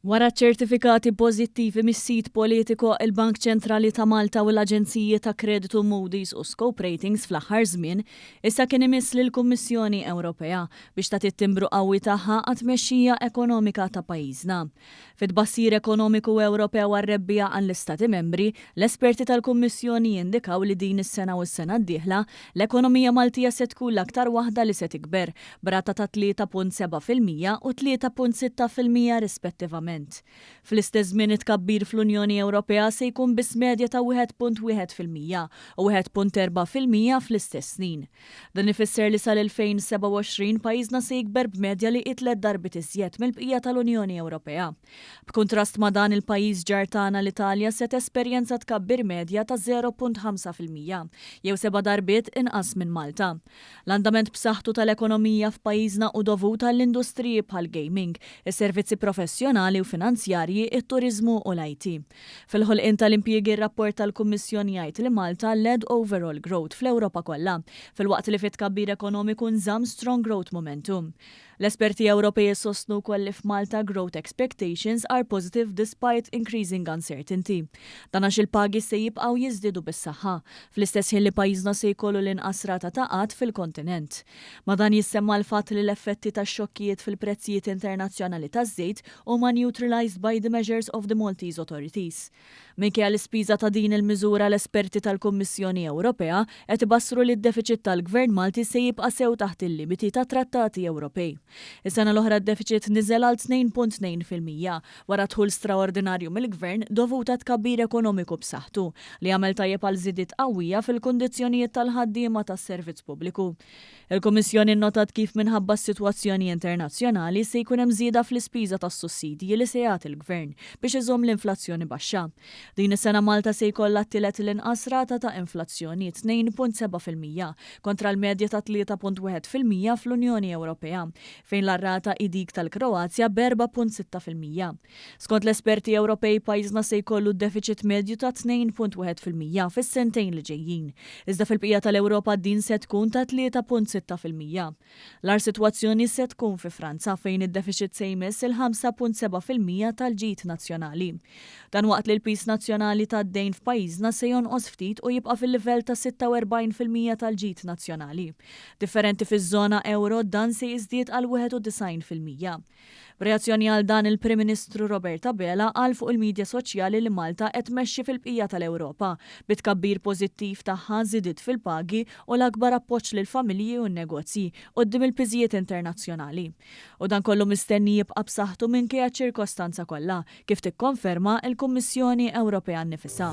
Wara ċ-ċertifikati pożittivi mis-sit politiku, il-Bank Ċentrali ta' Malta u l-aġenziji ta' kreditu Moody's u Scope Ratings fl-aħħar żmien, issa kien imiss lill-Kummissjoni Ewropea biex tagħti t-timbru qawwi tagħha għat-tmexxija ekonomika ta' pajjiżna. Fit-tbassir ekonomiku Ewropew għar-rebbiegħa għall-Istati Membri, l-esperti tal-Kummissjoni jindikaw li din is-sena u s-sena d-dieħla, l-ekonomija Maltija se tkun l-aktar waħda li se tikber, b'rata ta' 3.7 fil-mija u 3.6 fil-mija rispettivament. Fl-istess żmien it-tkabbir fl-Unjoni Ewropea se jkun biss medja ta' 1.1 fil-mija u 1.4 fil-mija fl-istess snin. Dan ifisser li sal-2027 pajjiżna se jikber b'medja li hi tliet darbiet iżjed mill-bqija tal-Unjoni Ewropea. B'kuntrast ma' dan, il-pajjiż ġar tagħna l-Italja se tesperjenza tkabbir medja ta' 0.5 fil-mija, jew seba' darbiet inqas minn Malta. L-andament b'saħħtu tal-ekonomija f'pajjiżna hu dovut għall-industriji bħall-gaming, is-servizzi professjonali u finanzjarji, it-turiżmu u l-IT. Fil-ħolqien tal-impjiegi r-rapport tal-Kummissjoni jgħid li Malta led overall growth fl-Ewropa kollha, filwaqt li fit-tkabbir ekonomiku nżamm strong growth momentum. L-esperti Ewropej isostnu wkoll li f'Malta growth expectations are positive despite increasing uncertainty. Dan għax il-pagi se jibqgħu jiżdiedu bis-saħħa, fl-istess ħin li pajjiżna se jkollu l-inqas rata ta' qgħad fil-kontinent. Ma' dan jissemma l-fatt li l-effetti tax-xokkijiet fil-prezzijiet internazzjonali taż-żejt huma neutralised by the measures of the Maltese authorities. Minkejja l-ispiża ta' din il-miżura l-esperti tal-Kummissjoni Ewropea qed ibassru li d-defiċit tal-Gvern Malti se jibqa' sew taħt il-limiti tat-Trattati Ewropej. Is-sena l-oħra d-defiċit niżel għal 2.2 fil-mija wara dħul straordinarju mill-Gvern dovut għat-tkabbir ekonomiku b'saħħtu li għamel tajjeb għal żidiet qawwija fil-kundizzjonijiet tal-ħaddiema tas-servizz pubbliku. Il-Kummissjoni nnotat kif minħabba s-sitwazzjoni internazzjonali se jkun hemm żieda fl-ispiża tas-sussidji li se jagħti l-Gvern biex iżomm l-inflazzjoni baxxa. Din is-sena Malta se jkollha t-tielet l-inqas rata ta' inflazzjoni, tnejn punt seba' fil-mija, kontra l-medja ta' tlieta punt wieħed fil-mija fl-Unjoni Ewropea, fejn l-ar rata hi dik tal-Kroazja b'erbgħa punt sitta fil-mija. Skont l-esperti Ewropej, pajjiżna se jkollu d-defiċit medju ta' 2.1 fil-mija fis-sentejn li ġejjin, iżda fil-bqija tal-Ewropa din se tkun ta' 3.6 fil-mija. L-agħar sitwazzjoni se tkun fi Franza, fejn id-defiċit se jmiss il-5.7 fil-mija tal-ġid nazzjonali. Dan waqt li l-piż nazzjonali tad-dejn f'pajjiżna se jonqos ftit u jibqa' fil-livell ta' 46 fil-mija tal-ġid nazzjonali. Differenti fiż-żona ewro, dan se jiżdied għal 91 fil-mija. B'reazzjoni għal dan il-Prim Ministru Robert Abela qal fuq il-midja soċjali li Malta qed tmexxi fil-bqija tal-Ewropa, bi tkabbir pożittiv tagħha, żidiet fil-pagi u l-akbar appoġġ lill-familji u n-negozji quddiem il-piżijiet internazzjonali. U dan kollu mistenni jibqa' b'saħħtu minkejja ċ-ċirkostanza kollha, kif tikkonferma l-Kummissjoni Ewropea nnifisha.